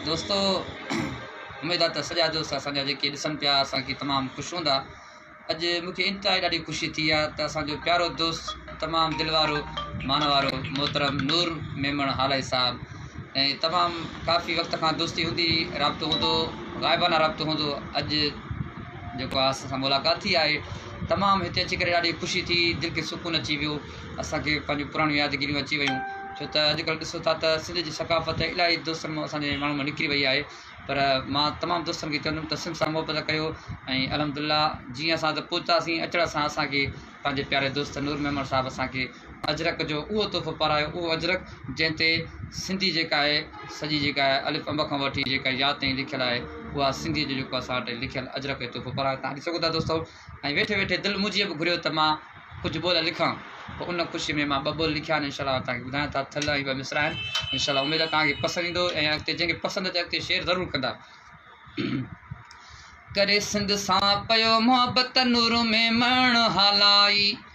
دوستو اميد آ ته سڄا دوست اسان جا جيڪي ڏسن پيا اسان کي تمام خوش هوندا اڄ مون کي انتهائي ڏاڍي خوشي ٿي آ ته اسان جو پيارو دوست تمام دل وارو مان وارو محترم نور ميمڻ هالائي صاحب ۽ تمام ڪافي وقت کان دوستي هوندي رابطو هوندو غائبانه رابطو هوندو اڄ جيڪو آ اسان سان ملاقات ٿي آهي تمام هتي اچي ڪري ڏاڍي خوشي ٿي دل کي سڪون اچي ويو اسان کي پنهنجون پراڻيون يادگيريون اچي ويون ڇو ته اڄڪلهه ڏسو ٿا ته سنڌ جي ثقافت الاهي دوستن مون اسان جي ماڻهن مون نڪري وئي آهي پر مان تمام دوستن کي چوندم ته سنڌ سان محبت ڪيو ۽ الحمد الله جيئن اسان ته پهتاسين اچڻ سان اسانکي پنهنجي پياري دوست نور ميمڻ صاحب اسانکي اجرڪ جو اهو تحفو پارايو اهو اجرڪ جنهن تي سنڌي جيڪا آهي سڄي جيڪا آهي الف انب کان وٺي جيڪا يا تائين لکيل آهي اها سنڌي جو جيڪو اسان وٽ لکيل اجرڪ جو تحفو پرايو تان ڏسي سگهو ٿا دوستو ۽ ويٺي ويٺي دل منهنجيء به گهريو ته مان ڪجهه ٻول لکان، پوء ان خوشيء ۾ مان ٻه ٻول لکيا آهن، انشاء الله توهان کي ٻڌايان ٿا، ٿل ۽ ٻه مصرع آهن، انشاء الله اميد آهي توهان کي پسند ايندو ۽ اڳتي جنهن کي پسند اچي اڳتي شيئر ضرور ڪندا. ڪري سنڌ سان پيو محبت نور ۾ مهڻ هالائي.